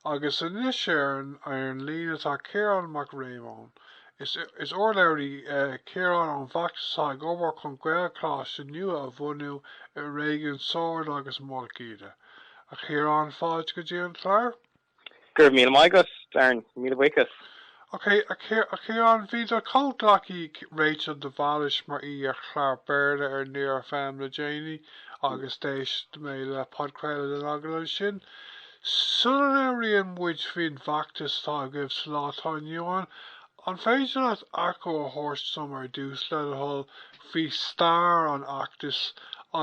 Agus anois ar an líne tá Ciarán Mac Réamoinn. Is urlabhraí é Ciarán ón bhfeachtas atá ag obair chun Gaelcholáiste nua a bhunú i réigiún Sord agus Mhullach Íde. A Chiaráin, fáilte go dtí an clár. Go raibh míle maith agat, Darren. Míle buíochas. Okay, a Chiaráin, bhí do chomhghleacaí Rachel de Bhailis mar aoi ar chlár Béarla ar Near FM le déanaí agus d'éist mé le podchraoladh den agallamh sin. Sula labhraíonn muid faoin bhfeachtas atá agaibh sa lá atá inniu ann, an féidir leat achoimre a thabhairt dom ar dtús, le do thoil, faoi stair an fheachtais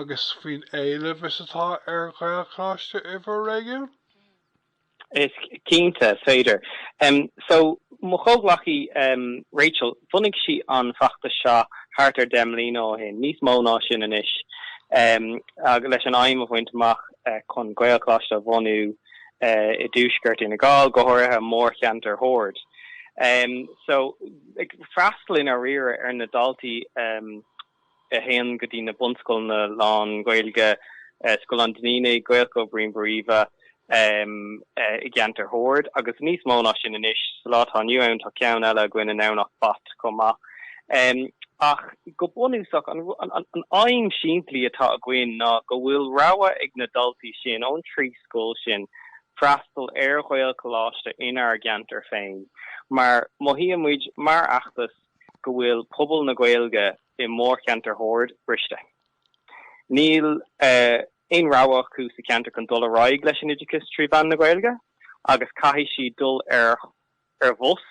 agus faoin éileamh is atá ar Ghaelcholáiste i bhur réigiún? Is cinnte is féidir. So, mo chomhghleacaí Rachel, bhunaigh sí an feachtas seo thart ar deich mbliana ó shin, níos mó ná sin anois, leis an aidhm a bhaint amach chun Gaelcholáiste a bhunú i dtuaisceart Fhine Gall, go háirithe mórcheantar Shoird. So, ag freastal i ndáiríre ar na daltaí, a théann go dtí na bunscoileanna lán-Ghaeilge, Scoil an Duinnínigh, Gaelscoil Bhriain Bóroimhe, i gceantar Shoird, agus níos mó ná sin anois. Sa lá atá inniu ann, tá ceann eile againn i nDomhnach Bat chomh maith. Ach go bunúsach, an aidhm shimplí atá againn ná go bhfuil rogha ag na daltaí sin ón trí scoil sin freastal ar Ghaelcholáiste inár gceantar féin, mar mothaíonn muid, mar fheachtas, go bhfuil pobal na Gaeilge i mórcheantar Shoird briste. Níl aon rogha acu sa cheantar chun dul ar aghaidh leis an oideachas trí mheán na Gaeilge agus caithfidh siad dul ar ar bhus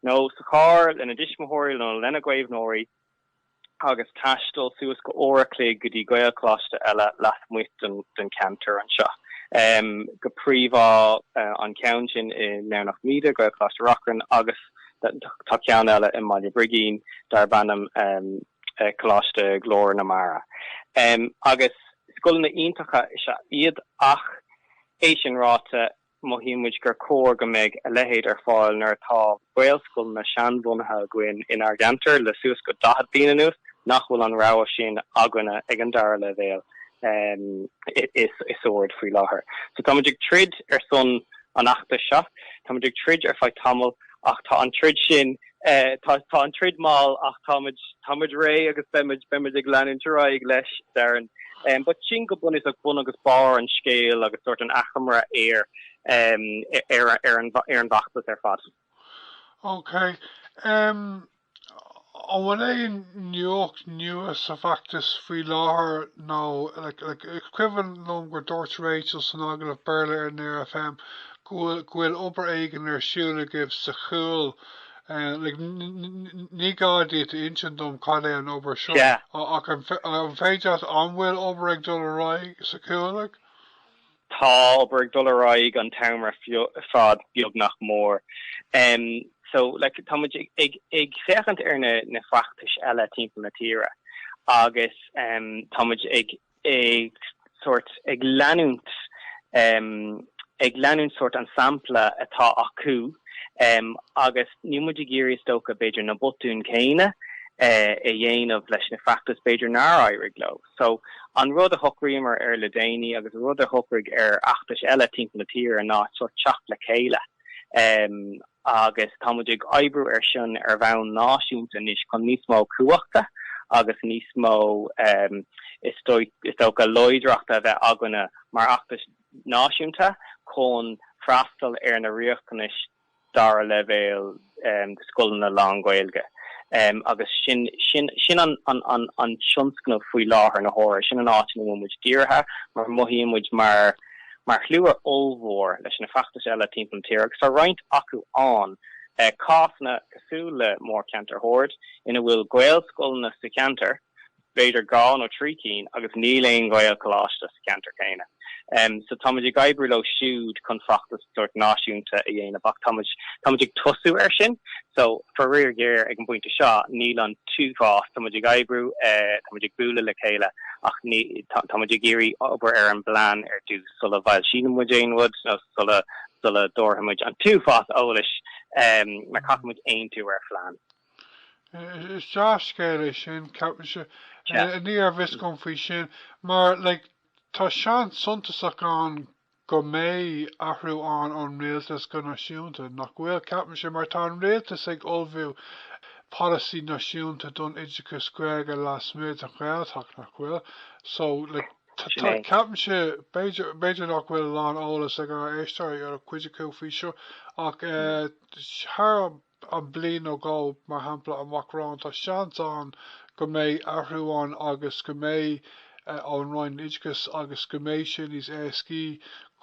nó sa charr lena dtuismitheoirí nó lena gcaomhnóirí agus taisteal suas go uair a chloig go dtí Gaelcholáiste eile lasmuigh den cheantar anseo, go príomha an ceann sin i nDomhnach Míde, Gaelcholáiste Reachrann agus. Tá ceann eile i mBaile Brigín darb ainm Coláiste Ghlór na Mara agus scoileanna iontacha is ea iad ach, é sin ráite, mothaíonn muid gur chóir go mbeidh a leithéid ar fáil nuair atá Gaelscoileanna seanbhunaithe againn inár gceantar le suas go daichead bliain anuas nach bhfuil an rogha sin againne ag an dara leibhéal i Sord faoi láthair. So tá muid ag troid ar son an fheachtais seo. Táimid ag troid ar feadh tamaill ach tá an troid sin, tá an troid mall ach táimid, táimid réidh agus beimid, beimid ag leanúint ar aghaidh leis, Darren. But sin go bunúsach bun agus barr an scéil agus sórt an achoimre ar, ar an bhfeachtas ar fad. Okay. An bhfuil aon nuacht nua sa bhfeachtas faoi láthair nó Is cuimhin liom gur dúirt Rachel san agallamh Béarla ar Near FM go bhfuil obair éigin ar siúl agaibh sa Chúil Ní gá duit a insint dom cad é an obair seo Sea. ach an féidir leat An bhfuil obair ag dul ar aghaidh sa Chúil? Tá obair ag dul ar aghaidh an t-am ar fad beag nach mór. Em so like táimid ag ag féachaint ar na na feachtais eile timpeall na tíre agus em táimid ag ag sort ag leanúint em ag leanúint sort an sampla atá acu em agus níl muid ag iarraidh is dócha b'fhéidir na botúin céanna eh a dhéanamh leis na feachtais b'fhéidir nár éirigh leo. So, an rud a shocraíomar air le déanaí, agus an rud a shocraigh na feachtais eile timpeall na tíre, ná sórt teacht le chéile, agus tá muid ag oibriú air sin ar bhonn náisiúnta anois chun níos mó cumhachta agus níos mó, is dócha, láidreachta a bheith againne mar fheachtas náisiúnta chun freastal ar na riachtanais dara leibhéal de scoileanna lánGhaeilge. Agus sin an tionscnamh faoi láthair na huaire, sin an áit ina bhfuil muid dírithe, mar mothaíonn muid mar shlua ollmhór leis na feachtais eile timpeall na tíre agus tá roinnt acu ann, cásanna cosúil le mórcheantar Shoird, ina bhfuil Gaelscoileanna sa cheantar, b'fhéidir dhá nó trí cinn, agus níl aon Ghaelcholáiste sa cheantar céanna. So, táimid ag oibriú leo siúd chun feachtas sórt náisiúnta a dhéanamh, ach táimid, táimid ag tosú air sin. So, faraor géar, ag an bpointe seo, níl an t-uafás, táimid ag oibriú, táimid ag bualadh le chéile, ach táimid ag iarraidh obair ar an bplean ar dtús, sula bhfoilsíonn muid aon rud, nó sula, sula dtabharfaimid an t-uafás eolais, mar caithfimid aontú ar phlean. Is dea-scéal é sin, ceapaimse. Ní raibh a fhios agam faoi sin, mar, like, tá seans suntasach ann go mbeidh athrú ann ón rialtas go náisiúnta, nach bhfuil? Ceapaimse, mar tá an rialtas ag ullmhú polasaí náisiúnta don oideachas Gaeilge lasmuigh den Ghaeltacht, nach bhfuil? So, like, tá, ceapaimse, b'fhéidir, b'fhéidir nach bhfuil a lán eolas ag ár éisteoirí, nó cuid acu, faoi seo, ach, eh, thar am, an bhliain nó dhá, mar shampla, amach romhainn, tá seans ann go mbeidh athrú ann agus go mbeidh ón Roinn Oideachais agus go mbeidh sé níos éascaí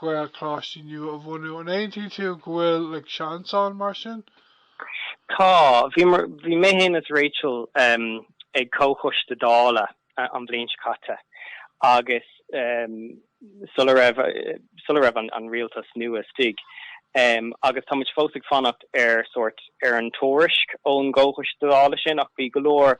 Gaelcholáistí nua a bhunú. An aontaíonn tú go bhfuil seans ann, mar sin? Tá. Bhí mé féin is Rachel ag comhchoiste Dála an bhliain seo caite agus sula raibh an rialtas nua istigh agus táimid fós ag fanacht ar sórt, ar an tuairisc ón gcomhchoiste Dála sin ach bhí go leor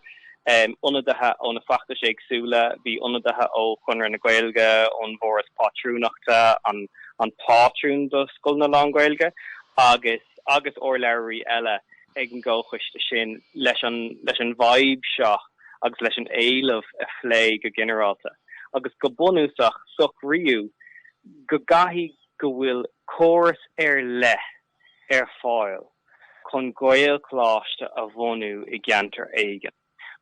ionadaithe ó na feachtais éagsúla, bhí ionadaithe ó Chonradh na Gaeilge, ón bhForas Pátrúnachta, an pátrún do scoileanna lán-Ghaeilge agus, agus urlabhraí eile. ag an gComhchoiste sin leis an bhfadhb seo agus leis an éileamh a phlé go ginearálta agus go bunúsach socraíodh go gcaithfidh, go bhfuil córas ar leith ar fáil chun Gaelcholáiste a bhunú i gceantar éigin.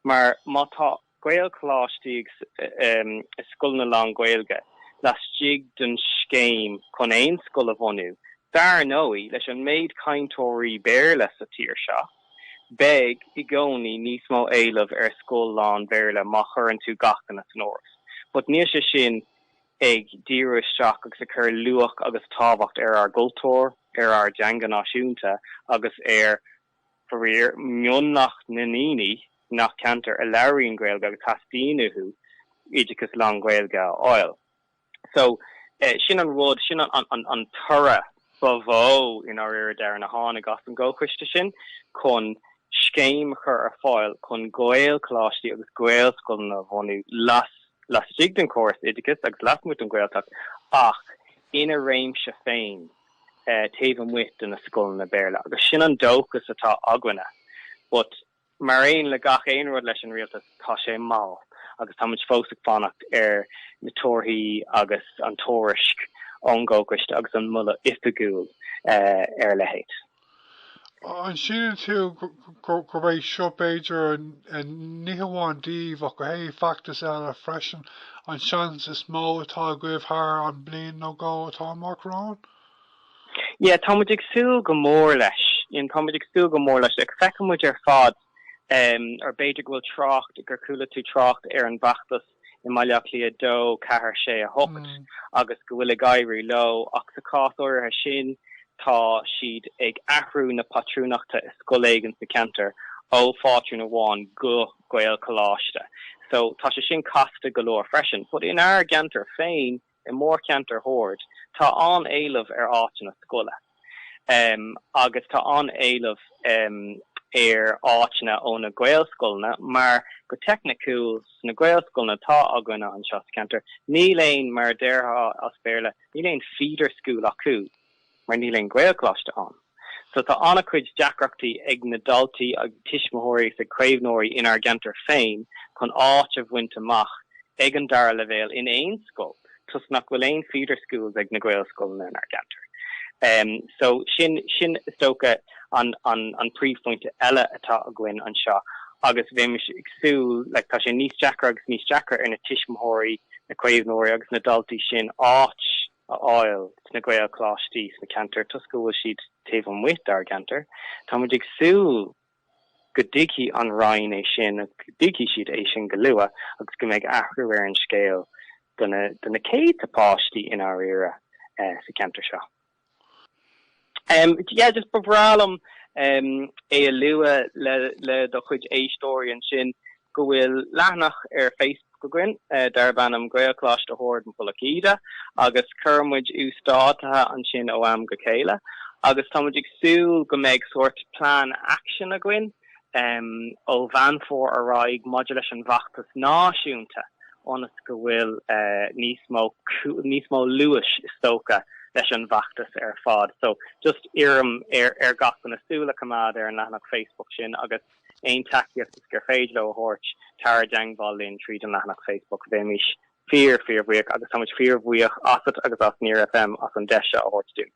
Mar má tá Gaelcholáistí i scoileanna lánGhaeilge laistigh den scéim chun aon scoil a bhunú, dar ndóigh, leis an méid cainteoirí Béarla sa tír seo, beidh i gcónaí níos mó éileamh ar scoil lánBhéarla má chuireann tú gach éinne san áireamh. But níl sé sin ag díriú isteach agus ag cur luach agus tábhacht ar ár gcultúr, ar ár dteanga náisiúnta agus ar Faraor, mionlach na ndaoine nach ceantair a labhraíonn Gaeilge agus theastaíonn uathu oideachas lánGhaeilge a fháil. So, sin an rud, sin an toradh ba mhó i ndáiríre a tháinig as an gcomhchoiste sin chun scéim a chur ar fáil chun Gaelcholáistí agus Gaelscoileanna a bhunú laistigh den chóras oideachais agus lasmuigh den Ghaeltacht ach ina réimse féin. taobh amuigh de na scoileanna Béarla, agus sin an dóchas atá againne. But, mar aon le gach aon rud leis an rialtas, tá sé mall, agus táimid fós ag fanacht ar na torthaí agus an tuairisc ón gComhchoiste agus an moladh oifigiúil ar a leithéid. An síleann tú gurb é seo b'fhéidir, ní hamháin daoibh, ach go háirithe feachtais eile freisin, an seans is mó atá agaibh thar an bliain nó dhó atá amach romhainn? Yeah, tá muid ag súil go mór leis, yeah tá muid ag súil go mór leis, agus feiceann muid ar fad, or b'fhéidir go bhfuil trácht, gur chuala tú trácht ar an bhfeachtas, i mBaile Átha Cliath 2 4 6 8 agus go bhfuil ag éirí leo, ach sa chás áirithe sin tá siad ag athrú na pátrúnachta i scoil éigin sa cheantar ó phátrún amháin go Gaelcholáiste so tá sé sin casta go leor freisin. But inár gceantar féin. I mórcheantar Shoird, tá an-éileamh ar áiteanna scoile agus tá an-éileamh ar áiteanna ó na Gaelscoileanna mar, go teicniciúil, sna Gaelscoileanna atá againne anseo sa cheantar, níl aon, mar a déarfá as Béarla, níl aon feeder school acu. mar níl aon Ghaelcholáiste ann. So tá an-chuid deacrachtaí ag na daltaí, ag tuismitheoirí is ag caomhnóirí inár gceantar féin chun áit a bhaint amach ag an dara leibhéal in aon scoil toisc nach bhfuil aon feeder schools ag na Gaelscoileanna inár gceantar. So sin, sin is dócha an, an, an príomhphointe eile atá againn anseo agus bheimis ag súil, like, tá sé níos deacra agus níos deacra ar na tuismitheoirí, na caomhnóirí agus na daltaí sin áit, a fháil sna Gaelcholáistí sna ceantair toisc go bhfuil siad taobh amuigh dár gceantar. Tá muid ag súil go dtuigfidh an Roinn é sin agus go dtuigfidh siad é sin go luath agus go mbeidh athrú ar an scéal do na céadta páistí i ndáiríre sa cheantar seo. Em, yeah, just ba bhreá liom, em, é a lua le, le do chuid éisteoirí ansin go bhfuil leathanach ar Facebook againn, eh, darb ainm Gaelcholáiste Shord Mhullach Íde agus cuireann muid uasdátaithe ansin ó am go chéile agus tá muid ag súil go mbeidh sórt plean action againn, ó Mheán Fómhair ar aghaidh maidir leis an bhfeachtas náisiúnta ionas go bhfuil níos mó luais is dócha leis an bhfeachtas ar fad. So just iarraim ar gach éinne súil a choimeád ar an leathanach Facebook sin agus aon tacaíocht is gur féidir leo a thabhairt, tar i dteangmháil linn tríd an leathanach Facebook. Bheimís fíor fíor bhuíoch agus táimid fíor bhuíoch asat agus as Near FM as an deis seo a thabhairt dúinn.